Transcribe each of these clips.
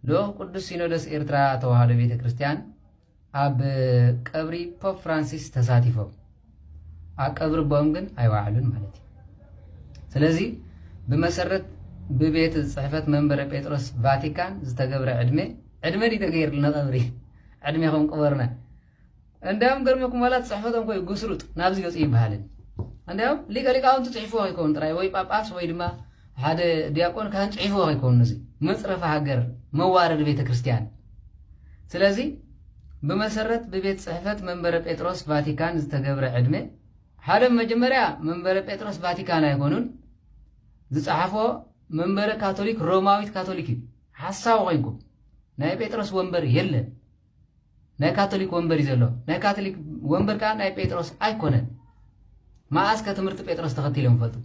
ልኡኽ ቅዱስ ሲኖዶስ ኤርትራ ተዋህዶ ቤተ ክርስቲያን ኣብ ቀብሪ ፖፕ ፍራንሲስ ተሳቲፎም ኣብ ቀብሪ ቦኦም ግን ኣይወዓሉን ማለት እዩ ስለዚ ብመሰረት ብቤት ፅሕፈት መንበረ ጴጥሮስ ቫቲካን ዝተገብረ ዕድመ ዕድመ ድዩ ተገይርልና ቀብሪ ዕድሜኹም ቅበሩና እንዲያውም ገርመኩም ዋላ ፅሕፈቶም ኮይ ጉስሩጥ ናብዚ ገፅ ይበሃልን እንዲያውም ሊቀ ሊቃውንቲ ፅሒፍዎ ከይከውን ጥራይ ወይ ጳጳስ ወይ ድማ ሓደ ዲያቆን ካህን ፅሒፍዎ ከይከውን እዚ መፅረፈ ሃገር መዋረድ ቤተ ክርስቲያን ስለዚ ብመሰረት ብቤት ፅሕፈት መንበረ ጴጥሮስ ቫቲካን ዝተገብረ ዕድመ ሓደ መጀመርያ መንበረ ጴጥሮስ ቫቲካን ኣይኮኑን ዝፀሓፎ መንበረ ካቶሊክ ሮማዊት ካቶሊክ እዩ ሓሳዊ ኮይንኩም ናይ ጴጥሮስ ወንበር የለን ናይ ካቶሊክ ወንበር እዩ ዘሎ ናይ ካቶሊክ ወንበር ከዓ ናይ ጴጥሮስ ኣይኮነን መኣስ ከ ትምህርቲ ጴጥሮስ ተኸቲሎም ይፈልጡ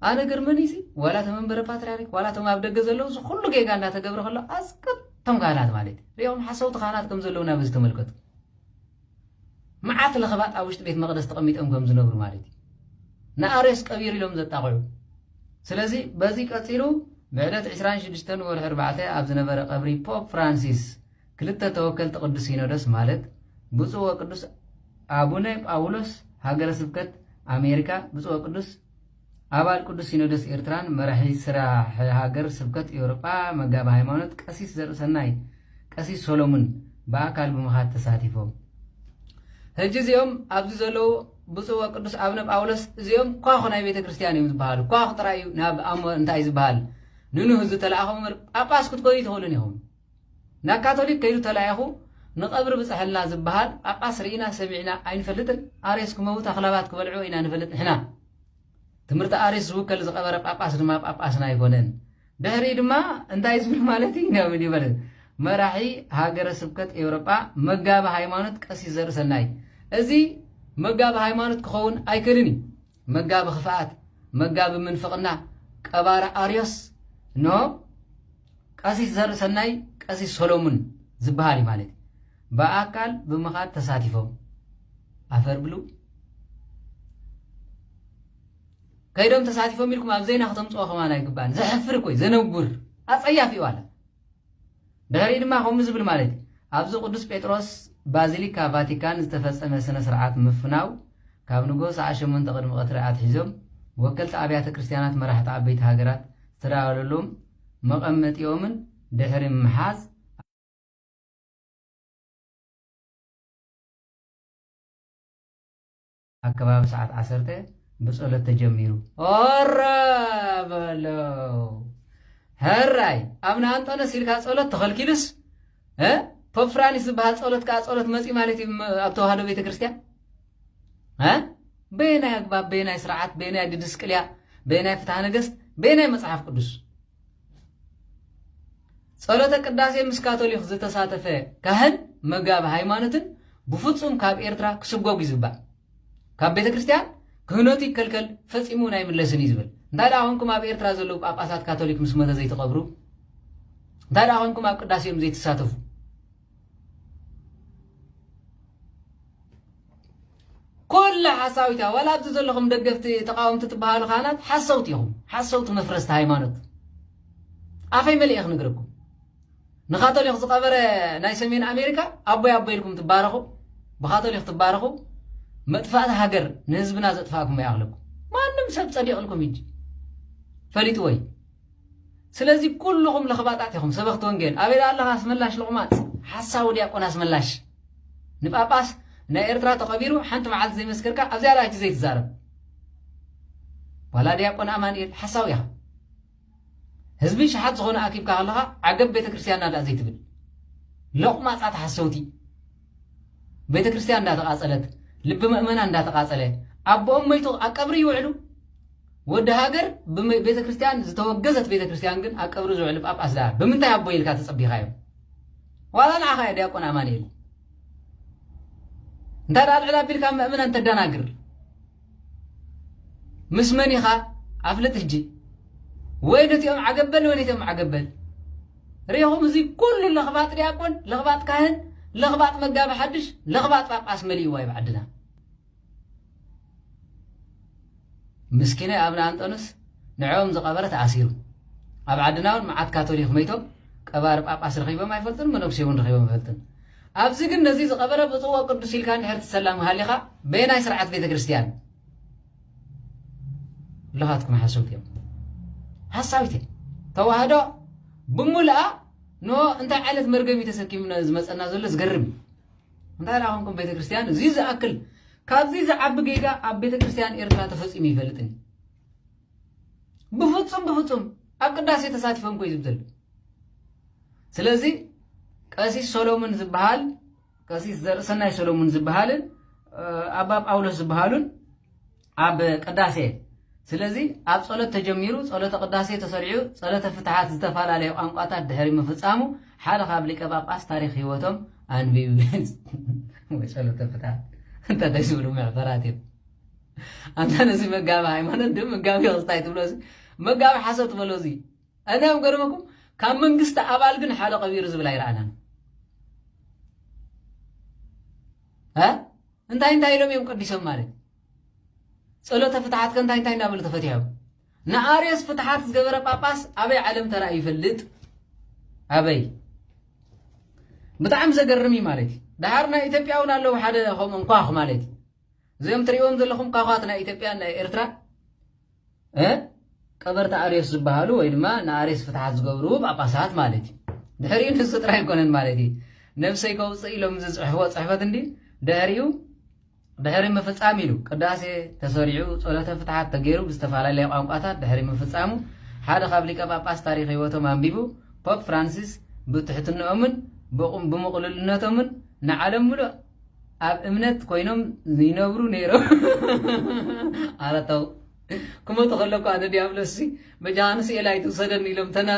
ኣነ ገርመኒ ሲ ዋላ እቶም መንበረ ፓትርያርክ ዋላ እቶም ኣብ ደገ ዘለዉ እዚ ኩሉ ጌጋ እናተገብረ ከሎ ኣስቅቶም ካህናት ማለት እዩ ሪኦም ሓሰውቲ ካህናት ከም ዘለዉ ናብ ዝተመልከቱ መዓት ለኽባጥ ኣብ ውሽጢ ቤት መቕደስ ተቐሚጦም ከም ዝነብሩ ማለት እዩ። ንኣርዮስ ቀቢሩ ኢሎም ዘጣቕዑ። ስለዚ በዚ ቀጺሉ ብዕለት ዕስራን ሽዱሽተን ወርሒ ኣርባዕተ ኣብ ዝነበረ ቀብሪ ፖፕ ፍራንሲስ ክልተ ተወከልቲ ቅዱስ ሲኖዶስ ማለት ብፁዕ ወቅዱስ ኣቡነ ጳውሎስ ሃገረ ስብከት ኣሜሪካ ብፁዕ ወቅዱስ ኣባል ቅዱስ ሲኖዶስ ኤርትራን መራሒ ስራሕ ሃገር ስብከት ኤውሮጳ መጋቢ ሃይማኖት ቀሲስ ዘርእሰናይ ቀሲስ ሶሎሙን ብኣካል ብምኻድ ተሳቲፎም። ሕጂ እዚኦም ኣብዚ ዘለዉ ብፁዕ ወቅዱስ ኣብነ ጳውሎስ እዚኦም ኳኹ ናይ ቤተ ክርስቲያን እዮም ዝበሃሉ ኳኹ ጥራይ እዩ ናብ ኣሞ እንታይ ዝበሃል ንንህ ዝተለኣኹም ጳጳስ ክትኮኑ ይትኽእሉን ኢኹም ናብ ካቶሊክ ከይዱ ተላኢኹ ንቐብሪ ብጸሐልና ዝብሃል ጳጳስ ርኢና ሰሚዕና ኣይንፈልጥን ኣሬስ ክመውት ኣኽላባት ክበልዕኦ ኢና ንፈልጥ ንሕና ትምህርቲ ኣሬስ ዝውከል ዝቐበረ ጳጳስ ድማ ጳጳስና ኣይኮነን ድሕሪኡ ድማ እንታይ ዝብል ማለት እዩ ናብ ምን ይበለ መራሒ ሃገረ ስብከት ኤውሮጳ መጋቢ ሃይማኖት ቀሲስ ዘርእሰናይ እዚ መጋቢ ሃይማኖት ክኸውን ኣይክእልን እዩ መጋቢ ክፍኣት፣ መጋቢ ምንፍቕና፣ ቀባሪ ኣርዮስ ን ቀሲስ ዘርእሰናይ ቀሲስ ሰሎሙን ዝበሃል እዩ ማለት እዩ። ብኣካል ብምኻድ ተሳቲፎም ኣፈር ብሉ ከይዶም ተሳቲፎም ኢልኩም ኣብ ዜና ከተምፅኦ ከማን ኣይግባእን። ዘሕፍር እኮ እዩ፣ ዘነውር ኣፀያፊ እዩ ኣለ ድሕሪኡ ድማ ከምኡ ዝብል ማለት እዩ፣ ኣብዚ ቅዱስ ጴጥሮስ ባዚሊካ ቫቲካን ዝተፈጸመ ስነ ስርዓት ምፍናው ካብ ንግሆ ሰዓት ሸሞንተ ቅድሚ ቀትሪ ኣትሒዞም ወከልቲ ኣብያተ ክርስቲያናት መራሕቲ ዓበይቲ ሃገራት ዝተዳለወሎም መቐመጢኦምን ድሕሪ ምሓዝ ኣብ ከባቢ ሰዓት ዓሰርተ ብጸሎት ተጀሚሩ ኦረ በለው ሀራይ ኣብነ ኣንጦነስ ኢልካ ጸሎት ተኸልኪሉስ ፖፕ ፍራንስ ዝበሃል ጸሎት ከዓ ጸሎት መፂ ማለት እዩ ኣብ ተዋህዶ ቤተ ክርስቲያን በየናይ ኣግባብ በየናይ ስርዓት በየናይ ድድስቅልያ በየናይ ፍትሃ ነገስት በየናይ መፅሓፍ ቅዱስ ጸሎተ ቅዳሴ ምስ ካቶሊክ ዝተሳተፈ ካህን መጋቢ ሃይማኖትን ብፍጹም ካብ ኤርትራ ክስጎግ እዩ ዝባል ካብ ቤተ ክርስቲያን ክህነቱ ይከልከል ፈጺሙ ናይ ምለስን እዩ ዝብል እንታይ ደኣ ኮንኩም ኣብ ኤርትራ ዘለዉ ጳጳሳት ካቶሊክ ምስ መተ ዘይትቐብሩ እንታይ ደኣ ኮንኩም ኣብ ቅዳሴኦም ዘይትሳተፉ ኩላ ሓሳዊት እያ ዋላ ኣብዚ ዘለኹም ደገፍቲ ተቃወምቲ ትበሃሉ ካህናት ሓሰውቲ ኢኹም ሓሰውቲ መፍረስቲ ሃይማኖት ኣፈይ መሊእ ክንግርኩም ንካቶሊክ ዝቀበረ ናይ ሰሜን ኣሜሪካ ኣቦይ ኣቦይ ኢልኩም ትባረኹ ብካቶሊክ ትባረኹ መጥፋእቲ ሃገር ንህዝብና ዘጥፋእኩም ይኣኽለኩም ማንም ሰብ ፀዲቕልኩም እጂ ፈሊጥዎ እዩ ስለዚ ኩሉኹም ለኽባጣት ኢኹም ሰበኽቲ ወንጌል። ኣበይ ደኣ ኣለኻ ኣስመላሽ ሎቕማጽ ሓሳዊ ድያቆን ኣስመላሽ። ንጳጳስ ናይ ኤርትራ ተቐቢሩ ሓንቲ መዓልቲ ዘይመስከርካ ኣብዚኣ ደኣ ሕጂ ዘይትዛረብ። ዋላ ድያቆን ኣማንኤል ሓሳዊ ኢኻ። ህዝቢ ሸሓት ዝኾነ ኣኪብካ ከለኻ ዓገብ ቤተክርስትያንና ደኣ ዘይትብል። ሎቕማጻት ሓሰውቲ። ቤተ ክርስትያን እንዳተቃጸለት ልቢ መእመናን እንዳተቃጸለ ኣቦኦም መይቱ ኣብ ቀብሪ ይውዕሉ ወዲ ሃገር ብቤተ ክርስትያን ዝተወገዘት ቤተ ክርስትያን ግን ኣብ ቀብሪ ዝውዕሉ ጳጳስ ደኣ ብምንታይ ኣቦ ኢልካ ተጸቢኻዮ ዋላ ንዓኻ ዲያቆን ኣማንኤል እንታይ ደኣ ልዕል ኣቢልካ መእመናን ተደናግር ምስ መን ኢኻ ኣፍልጥ ሕጂ ወይ ነቲኦም ዓገበል ወይ ነቲኦም ዓገበል ሪኹም እዚ ኩሉ ለኽባጥ ዲያቆን ለኽባጥ ካህን ለኽባጥ መጋቢ ሓድሽ ለኽባጥ ጳጳስ መሊእዋ እዩ ዓድና ምስኪነ ኣብነ ኣንጠኑስ ንዕኦም ዝቐበረ ተኣሲሩ ኣብ ዓድና እውን መዓት ካቶሊክ መይቶም ቀባሪ ጳጳስ ረኺቦም ኣይፈልጡን መነኩሴ እውን ረኺቦም ኣይፈልጡን ኣብዚ ግን ነዚ ዝቀበረ ብጽዎ ቅዱስ ኢልካ እንድሕር ትሰላም ሃሊኻ በየናይ ስርዓት ቤተክርስትያን ለኻትኩም ሓሰውት እዮም ሓሳዊት እዮም ተዋህዶ ብምልኣ ን እንታይ ዓይነት መርገም እዩ ተሰኪምና ዝመፀና ዘሎ ዝገርም እንታይ ደኣ ኮንኩም ቤተክርስትያን እዚ ዝኣክል ካብዚ ዝዓቢ ጌጋ ኣብ ቤተክርስትያን ኤርትራ ተፈፂሙ ይፈልጥን ብፍጹም ብፍጹም ኣብ ቅዳሴ ተሳቲፎም ኮዩ ዝብ ዘሎ ስለዚ ቀሲስ ሰሎሙን ዝበሃል ቀሲስ ዘርእሰናይ ሰሎሙን ዝበሃልን ኣባ ጳውሎስ ዝበሃሉን ኣብ ቅዳሴ ስለዚ ኣብ ጸሎት ተጀሚሩ ጸሎተ ቅዳሴ ተሰሪዑ ጸሎተ ፍትሓት ዝተፈላለየ ቋንቋታት ድሕሪ ምፍጻሙ ሓደ ካብ ሊቀ ጳጳስ ታሪክ ህይወቶም ኣንቢቡ ጸሎተ ፍትሓት እንተ ደስ ዝብሉ መዕፈራት እዮም ኣታ ነዚ መጋቢ ሃይማኖት ድ መጋቢ ክስታይ ትብሎ እዚ መጋቢ ሓሶት በሎ እዚ ኣናዮም ገርመኩም ካብ መንግስቲ ኣባል ግን ሓደ ቀቢሩ ዝብል ኣይረኣናን እንታይ እንታይ ኢሎም እዮም ቀዲሶም ማለት ጸሎተ ፍትሓት ከ እንታይ እንታይ እናበሉ ተፈትሖም ንኣርዮስ ፍትሓት ዝገበረ ጳጳስ ኣበይ ዓለም ተራእዩ ይፈልጥ ኣበይ ብጣዕሚ ዘገርም እዩ ማለት እዩ ደሃር ናይ ኢትዮጵያ እውን ኣለዉ ሓደ ከምኡ እንኳኽ ማለት እዩ እዚኦም ትርእዎም ዘለኹም ኳኳት ናይ ኢትዮጵያን ናይ ኤርትራ ቀበርቲ ኣርዮስ ዝበሃሉ ወይ ድማ ንኣርዮስ ፍትሓት ዝገብሩ ጳጳሳት ማለት እዩ ድሕሪኡ ንሱ ጥራይ ኣይኮነን ማለት እዩ ነብሰይ ከውፅእ ኢሎም ዝፅሕፍዎ ፅሕፈት እንዲ ድሕሪኡ ድሕሪ ምፍፃም ኢሉ ቅዳሴ ተሰሪዑ ፀሎተ ፍትሓት ተገይሩ ብዝተፈላለየ ቋንቋታት ድሕሪ ምፍፃሙ ሓደ ካብ ሊቀ ጳጳስ ታሪክ ህይወቶም ኣንቢቡ ፖፕ ፍራንሲስ ብትሕትንኦምን ብምቕልልነቶምን ንዓለም ምሉእ ኣብ እምነት ኮይኖም ይነብሩ ነይሮም ኣረተው ክመቱ ከለኩ ኣነ ዲያብሎስ መጃሃንስ ኤል ኣይትውሰደኒ ኢሎም ተና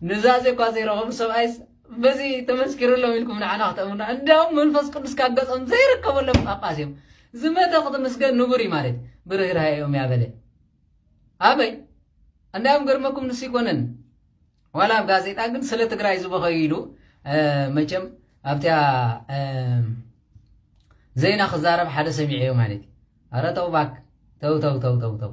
ንዛዘ እኳ ዘይረኸቡ ሰብኣይስ በዚ ተመስኪርሎም ኢልኩም ንዓና ክተእምና እንዲያውም መንፈስ ቅዱስ ካብ ገጾም ዘይርከበሎም ጳጳስ እዮም ዝመተ ክትምስገን ንቡር እዩ ማለት ብርህራሄ እዮም ያበለ ኣበይ እንዲያውም ገርመኩም ንሱ ይኮነን ዋላ ኣብ ጋዜጣ ግን ስለ ትግራይ ዝበኸዩ ኢሉ መቸም ኣብቲያ ዜና ክዛረብ ሓደ ሰሚዐዮ ማለት እዩ ኣረ ተው ባክ ተው ተው ተው ተው ተው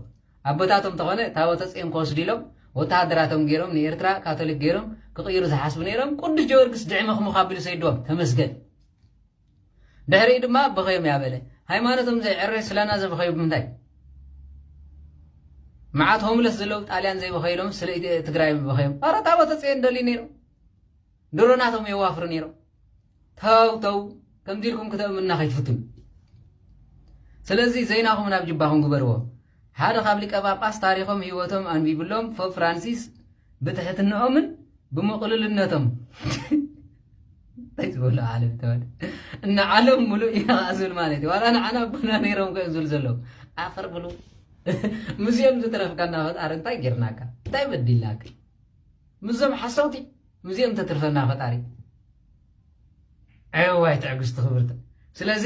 ኣቦታቶም ተኾነ ታቦተ ፅዮን ክወስዱ ኢሎም ወተሃደራቶም ገይሮም ንኤርትራ ካቶሊክ ገይሮም ክቕይሩ ዝሓስቡ ነይሮም ቅዱስ ጀወርግስ ድዕምኽምኽ ኣቢሉ ሰይድዎም ተመስገን ድሕሪኡ ድማ በኸዮም እያ በለ። ሃይማኖቶም ዘይዕረ ስለና ዘበኸዩ ብምንታይ? መዓት ሆምለስ ዘለው ጣልያን ዘይበኸይሎም ስለ ትግራይ በኸዮም። ኣረ ታቦተ ፅዮን ደልዩ ነይሩ ድሮ ናቶም የዋፍሩ ነይሩ። ተው ተው ከምዚ ኢልኩም ክተእምኑና ከይትፍትኑ። ስለዚ ዘይናኹም ናብ ጅባኹም ግበርዎ። ሓደ ካብ ሊቀ ጳጳስ ታሪኾም ህይወቶም ኣንቢቡሎም ፖፕ ፍራንሲስ ብትሕትንኦምን ብምቕሉልነቶም እንታይ ዝበሉ ዓለም ተባል እና ዓለም ሙሉእ ኢና ከዓ ዝብል ማለት እዩ ዋላ ንዓና ኣቦና ነይሮም ከ ዝብል ዘለዉ ኣፈር ብሉ ምስኦም ዝትረፍካና ፈጣሪ እንታይ ጌርናካ እንታይ በዲልናካ ምስዞም ሓሰውቲ ምስኦም ተትርፈና ፈጣሪ ዕዋይ ትዕግስቲ ክብርቲ ስለዚ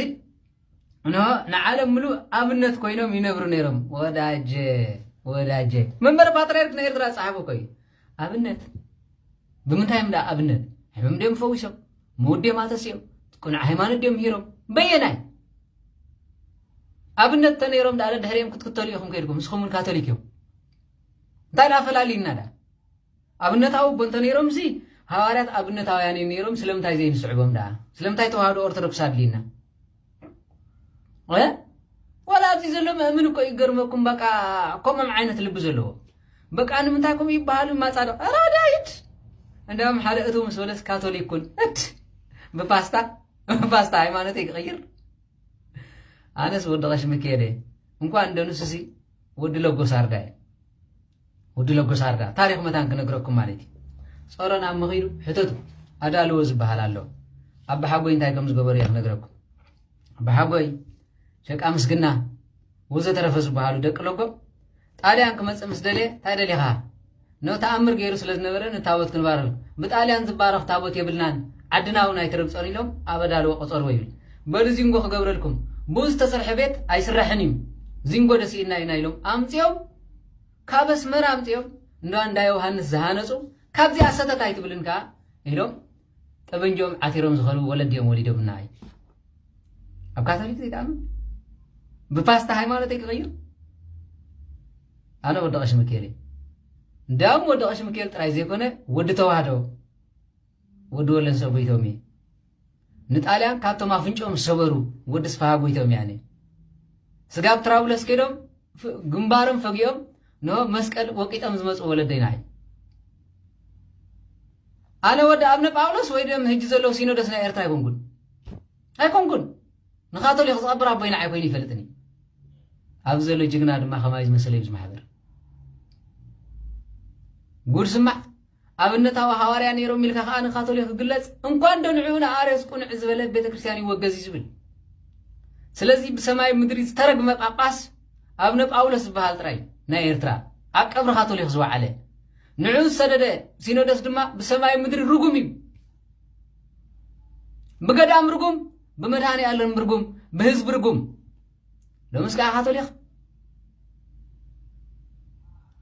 እንሆ ንዓለም ምሉእ ኣብነት ኮይኖም ይነብሩ ነይሮም። ወዳጀ ወዳጀ መንበረ ፓትርያርክ ናይ ኤርትራ ዝጸሓፎ እኮ እዩ። ኣብነት ብምንታይም ደኣ ኣብነት ሕምም ድዮም ፈዊሶም ምውት ድዮም ኣተስዮም ቅኑዕ ሃይማኖት ድዮም ምሂሮም በየናይ ኣብነት ተነይሮም ደኣ ድሕሪኦም ክትክተሉ ኢኹም ከይድኩም ንስኹም እውን ካቶሊክ እዮም እንታይ ደኣ ፈላልዩና ደኣ ኣብነታዊ እኮ እንተ ነይሮምሲ ሃዋርያት ኣብነታውያን እዮም ነይሮም ስለምንታይ ዘይንስዕቦም ደኣ ስለምንታይ ተዋህዶ ኦርቶዶክስ ኣድልዩና እ ዋላ ኣብዚ ዘሎ መእምን እኮ ይገርመኩም በቃ ከምም ዓይነት ልቢ ዘለዎ በቃ ንምንታይ ከምኡ ይበሃሉ ማፃድቕ ራድያ ይድ እንዳም ሓደ እቱ ምስ በለስ ካቶሊክ ኩን እድ ብፓስታ ብፓስታ ሃይማኖት ክቕይር ኣነስ ወዲ ቀሽ ምክየደ እንኳን እንደንሱሲ ወዲ ለጎሳርዳ እዩ ወዲ ለጎሳርዳ ታሪኽ መታን ክነግረኩም ማለት እዩ ጸሮ ናብ መኺዱ ሕተቱ ኣዳልዎ ዝበሃል ኣሎ ኣባሓጎይ እንታይ ከም ዝገበሩ እየ ክነግረኩም ኣባሓጎይ ደቂ ኣምስግና ወዘተረፈ ዝበሃሉ ደቂ ለጎ ጣልያን ክመፅእ ምስ ደልየ እንታይ ደሊኻ ነ ተኣምር ገይሩ ስለ ዝነበረ ንታቦት ክንባረር ብጣልያን ዝባረኽ ታቦት የብልናን ዓድና እውን ኣይትረብፀን ኢሎም ኣብ ኣዳልዎ ቆፀርዎ ይብል በሉ ዚንጎ ክገብረልኩም ብኡ ዝተሰርሐ ቤት ኣይስራሕን እዩ ዚንጎ ደሲእና ኢና ኢሎም ኣምፅኦም ካብ ኣስመራ ኣምጺኦም እንዶ ኣንዳ ዮውሃንስ ዝሃነጹ ካብዚኣ ሰተት ኣይትብልን ከኣ ኢሎም ጠበንጅኦም ዓቲሮም ዝኸልቡ ወለዲኦም ወሊዶምና እዩ ኣብ ካቶሊክ ዘይትኣምን ብፓስታ ሃይማኖተይ ክቕይር ኣነ ወዲ ቀሺ ምክኤል እዩ እንዲያውም ወዲ ቀሺ ምክኤል ጥራይ ዘይኮነ ወዲ ተዋህዶ ወዲ ወለንሰ ጎይቶም እዩ ንጣልያን ካብቶም ኣፍንጭኦም ዝሰበሩ ወዲ ስፍሃ ጎይቶም ያኔ ስጋብ ትራብለስ ከይዶም ግንባሮም ፈጊኦም ን መስቀል ወቂጦም ዝመፁ ወለደይና እዩ ኣነ ወዲ ኣብነ ጳውሎስ ወይ ደም ህጂ ዘለዉ ሲኖዶስ ናይ ኤርትራ ኣይኮንኩን ኣይኮንኩን ንካቶሊክ ዝቐብር ኣቦይና ዓይኮይኑ ይፈልጥኒ ኣብዚ ዘሎ ጅግና ድማ ከማይ ዝመሰለ እዩ ዝማሕበር ጉድ ስማዕ ኣብነታዊ ሃዋርያ ነይሮም ኢልካ ከኣ ንካቶሊክ ክግለጽ እንኳንዶ ንዕኡ ንኣርዮስ ቁንዕ ዝበለ ቤተ ክርስቲያን ይወገዝ እዩ ዝብል ስለዚ ብሰማይ ምድሪ ዝተረግመ ጳጳስ ኣብነ ጳውሎስ ዝበሃል ጥራይ ናይ ኤርትራ ኣብ ቀብሪ ካቶሊክ ዝወዓለ ንዕኡ ዝሰደደ ሲኖዶስ ድማ ብሰማይ ምድሪ ርጉም እዩ ብገዳም ርጉም ብመድሃኒ ኣለም ርጉም ብህዝቢ ርጉም ሎምስ ከዓ ካቶሊክ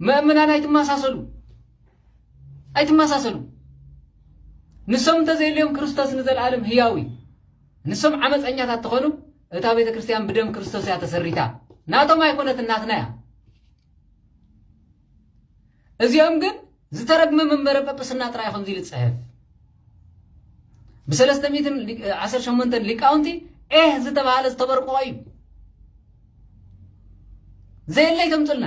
መእምናን ኣይትመሳሰሉ ኣይትመሳሰሉ ንሶም እንተዘይልዮም ክርስቶስ ንዘለኣለም ህያው እዩ ንሶም ዓመፀኛታት ተኾኑ እታ ቤተ ክርስቲያን ብደም ክርስቶስ እያ ተሰሪታ ናቶም ኣይኮነት እናትና እያ እዚኦም ግን ዝተረግመ መንበረ ጵጵስና ጥራይ ከምዚ ኢሉ ዝጽሕፍ ብሰለስተ ሚእትን ዓሰርተ ሸሞንተን ሊቃውንቲ ኤህ ዝተባሃለ ዝተበርቆ እዩ ዘየለይ ተምፅልና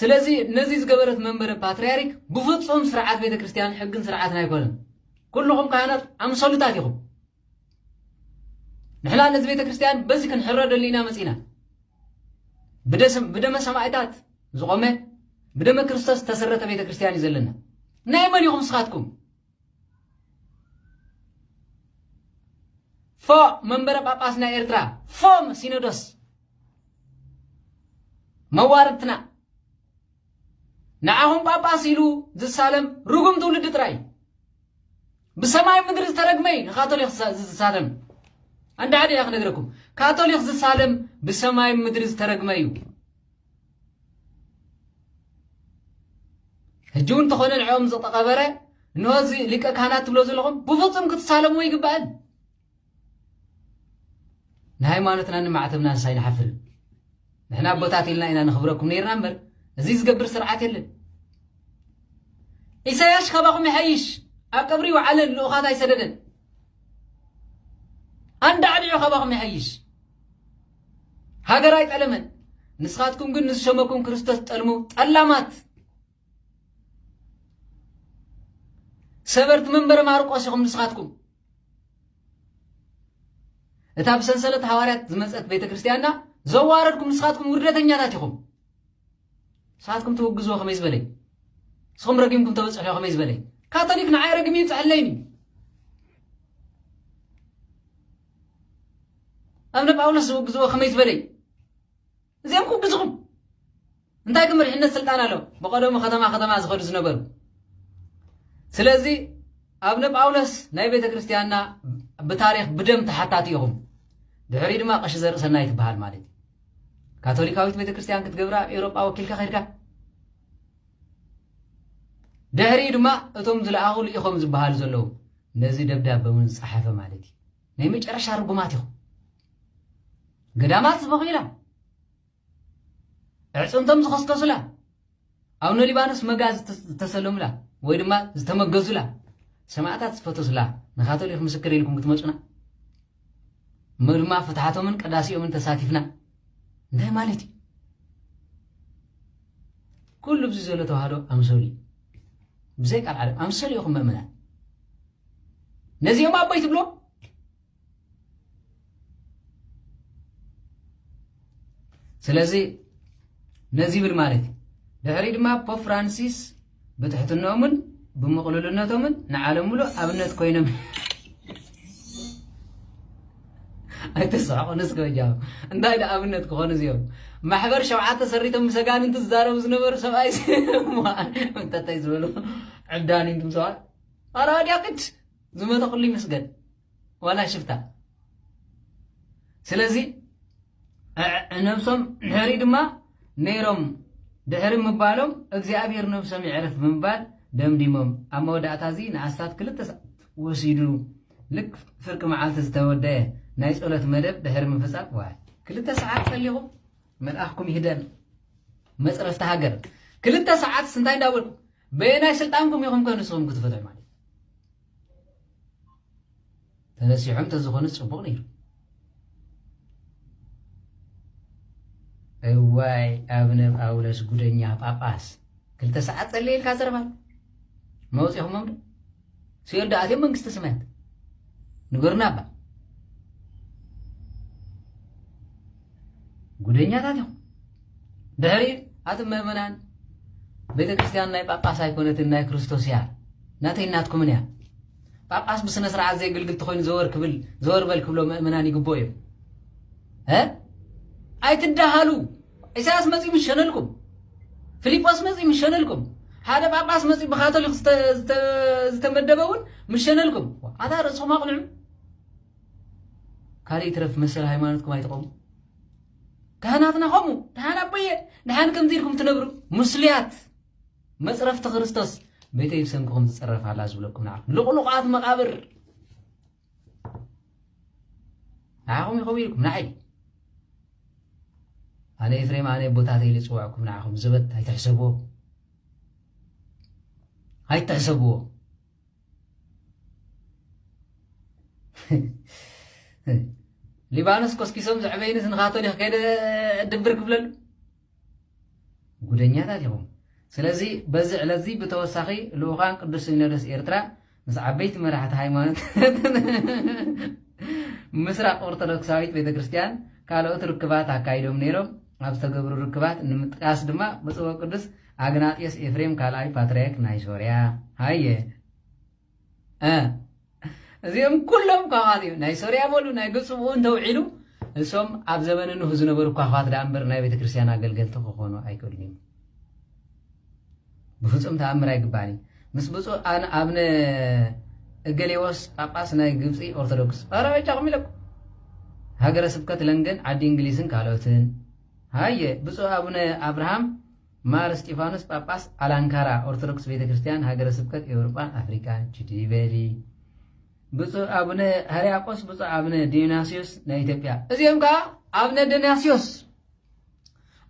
ስለዚ ነዚ ዝገበረት መንበረ ፓትርያርክ ብፍፁም ስርዓት ቤተ ክርስቲያን ሕግን ስርዓትን ኣይኮነን ኩልኹም ካህናት ኣምሰሉታት ኢኹም ንሕና ነዚ ቤተ ክርስቲያን በዚ ክንሕረደሉ ኢና መፂና ብደመ ሰማዕታት ዝቆመ ብደመ ክርስቶስ ዝተሰረተ ቤተ ክርስቲያን እዩ ዘለና ናይ መን ኢኹም ስኻትኩም ፎ መንበረ ጳጳስ ናይ ኤርትራ ፎም ሲኖዶስ መዋርድትና ንዓኹም ጳጳስ ኢሉ ዝሳለም ርጉም ትውልዲ ጥራይ እዩ። ብሰማይ ምድሪ ዝተረግመ እዩ ንካቶሊክ ዝሳለም። ኣንድ ሓደ እያ ክነግረኩም፣ ካቶሊክ ዝሳለም ብሰማይ ምድሪ ዝተረግመ እዩ። ሕጂ እውን እንተኾነ ንዕኦም ዝተቐበረ እንሆ እዚ ሊቀ ካህናት ትብሎ ዘለኹም ብፍጹም ክትሳለምዎ ይግባእን ንሃይማኖትናን ንማዕተብናንስ ኣይንሓፍርን? ንሕና ኣቦታት ኢልና ኢና ነኽብረኩም ነይርና እምበር እዚ ዝገብር ስርዓት የለን። ኢሳያስ ካባኹም ይሓይሽ ኣብ ቀብሪ ይውዓለን ልኡኻት ኣይሰደደን ኣንዳዕዲዑ ካባኹም ይሓይሽ ሃገር ኣይጠለመን። ንስኻትኩም ግን ንዝሸመኩም ክርስቶስ ጠልሙ ጠላማት ሰበርቲ መንበረ ማርቆስ ኢኹም ንስኻትኩም እታ ብሰንሰለት ሃዋርያት ዝመፀት ቤተ ክርስቲያንና ዘዋረድኩም ንስኻትኩም ውርደተኛታት ኢኹም ንስኻትኩም ትውግዝዎ ከመይ ዝበለይ ንስኹም ረጊምኩም ተበፅሑ ከመይ ዝበለይ ካቶሊክ ንዓይ ረግሚ ይብፅሐለይኒ ኣብነ ጳውሎስ ዝውግዝዎ ከመይ ዝበለይ እዚኦም ኩብዝኹም እንታይ ግን መሪሕነት ስልጣን ኣሎ ብቀደሙ ከተማ ከተማ ዝኸዱ ዝነበሩ ስለዚ ኣብነ ጳውሎስ ናይ ቤተ ክርስቲያንና ብታሪክ ብደም ተሓታቲ ኢኹም ድሕሪ ድማ ቀሺ ዘርእሰናይ ትበሃል ማለት እዩ ካቶሊካዊት ቤተ ክርስቲያን ክትገብራ ኣብ ኤውሮጳ ወኪልካ ከድካ ድሕሪ ድማ እቶም ዝለኣኹሉ ኢኹም ዝበሃሉ ዘለዉ ነዚ ደብዳበ እውን ዝፀሓፈ ማለት እዩ ናይ መጨረሻ ርጉማት ኢኹም ገዳማት ዝበኺላ ዕፅምቶም ዝኸስከሱላ ኣብ ሊባኖስ መጋ ዝተሰለሙላ ወይ ድማ ዝተመገዙላ ሰማእታት ዝፈተሱላ ንካቶሊክ ምስክር ኢልኩም ክትመፁና እሞ ድማ ፍትሓቶምን ቅዳሴኦምን ተሳቲፍና እንታይ ማለት እዩ ኩሉ ብዚ ዘሎ ተዋህዶ ኣምሰሉ እዩ ብዘይ ቃል ዓለም ኣምሰሉ ኢኹም መእመናት ነዚኦም ኣቦይ ትብሎም ስለዚ ነዚ ይብል ማለት እዩ ድሕሪ ድማ ፖፕ ፍራንሲስ ብትሕትነኦምን ብምቕልልነቶምን ንዓለም ሙሉእ ኣብነት ኮይኖም ኣይተስሕቑ ንስከ ጃ እንታይ ደ ኣብነት ክኾኑ እዚኦም ማሕበር ሸውዓተ ሰሪቶም ምስ ኣጋንንቲ ዝዛረቡ ዝነበሩ ሰብኣይ እንተታይ ዝበሉ ዕብዳን እዮም ትምሰዋል ዋላ ወዲያቅት ዝመተ ኩሉ ይመስገን ዋላ ሽፍታ ስለዚ ነብሶም ንሕሪ ድማ ነይሮም ድሕሪ ምባሎም እግዚኣብሔር ነብሶም ይዕርፍ ብምባል ደምዲሞም ኣብ መወዳእታ እዚ ንኣስታት ክልተ ሰዓት ወሲዱ ልክ ፍርቂ መዓልቲ ዝተወደአ ናይ ጸሎት መደብ ድሕሪ ምፍጻም ዋይ ክልተ ሰዓት ጸሊኹም መልኣኽኩም ይህደን መፅረፍቲ ሃገር ክልተ ሰዓት ስንታይ እንዳበልኩ በየናይ ስልጣንኩም ኢኹም ከ ንስኹም ክትፈትሑ ማለት ተነሲሖም ተዝኾኑ ፅቡቕ ነይሩ እዋይ ኣብነ ጳውሎስ ጉደኛ ጳጳስ ክልተ ሰዓት ፀለየልካ ዘረባ መውፂኹሞም ዶ ሲኦል ዶ ኣትዮም መንግስተ ሰማያት ንገሩና እባ ጉደኛታት ኢኹም ድሕሪ ኣቱም ምእመናን ቤተ ክርስቲያን ናይ ጳጳስ ኣይኮነትን ናይ ክርስቶስ እያ ናተይ ናትኩምን እያ ጳጳስ ብስነ ስርዓት ዘየግልግል ተኮይኑ ዘወር ክብል ዘወር በል ክብሎ ምእመናን ይግብኦ እዮም ኣይትዳሃሉ ኢሳያስ መጺኡ ምስ ሸነልኩም፣ ፍሊጶስ መጺኡ ምስ ሸነልኩም፣ ሓደ ጳጳስ መጺኡ ብካቶሊክ ዝተመደበ እውን ምስ ሸነልኩም፣ ኣታ ርእስኹም ኣቕንዑ። ካልእ ይትረፍ መሰል ሃይማኖትኩም ኣይትቐሙ። ካህናትና ከምኡ ድሓን ኣቦየ ድሓን ከምዚ ኢልኩም ትነብሩ ምስሉያት መፅረፍቲ ክርስቶስ ቤተይ ብሰንክኹም ትፅረፍ ኣላ ዝብለኩም ንዓኹም ልቑልቋት መቓብር ንዓኹም ይኸውን ኢልኩም ንዓይ ኣነ ኤፍሬም ኣነ ቦታተይ ኢለ ዝፅዋዕኩም ንዓኹም ዘበት ኣይትሕሰብዎ ኣይትሕሰብዎ ሊባኖስ ኮስኪሶም ዘዕበይንስ ንካቶሊክ ከይደ ድብር ክብለሉ ጉደኛታት ኢኹም። ስለዚ በዚ ዕለትዚ ብተወሳኺ ልኡካን ቅዱስ ሲኖዶስ ኤርትራ ምስ ዓበይቲ መራሕቲ ሃይማኖት ምስራቅ ኦርቶዶክሳዊት ቤተ ክርስቲያን ካልኦት ርክባት ኣካይዶም ነይሮም። ኣብ ዝተገብሩ ርክባት ንምጥቃስ ድማ ብፁዕ ቅዱስ ኣግናጢዮስ ኤፍሬም ካልኣይ ፓትርያርክ ናይ ሶርያ ሃየ እዚኦም ኩሎም ኳኻት እዮም። ናይ ሶርያ በሉ ናይ ግብፂ ብኡ እንተውዒሉ እሶም ኣብ ዘበነ ኖህ ዝነበሩ ኳኻት ዳኣ እምበር ናይ ቤተክርስትያን ኣገልገልቲ ክኾኑ ኣይክእሉን እዮም። ብፍፁም ተኣምር ኣይግባእን እዩ። ምስ ብፁዕ ኣብነ እገሌዎስ ጳጳስ ናይ ግብፂ ኦርቶዶክስ ኧረ በጃኹም ኢለኩም ሃገረ ስብከት ለንደን ዓዲ እንግሊዝን ካልኦትን ሃየ ብፁዕ ኣቡነ ኣብርሃም ማር እስጢፋኖስ ጳጳስ ኣላንካራ ኦርቶዶክስ ቤተ ክርስቲያን ሃገረ ስብከት ኤውርጳን ኣፍሪቃን ችዲ በሊ ብፁዕ ኣቡነ ሃርያቆስ ብፁዕ ኣቡነ ዲዮናስዮስ ናይ ኢትዮጵያ እዚኦም ከዓ ኣብነ ዲዮናስዮስ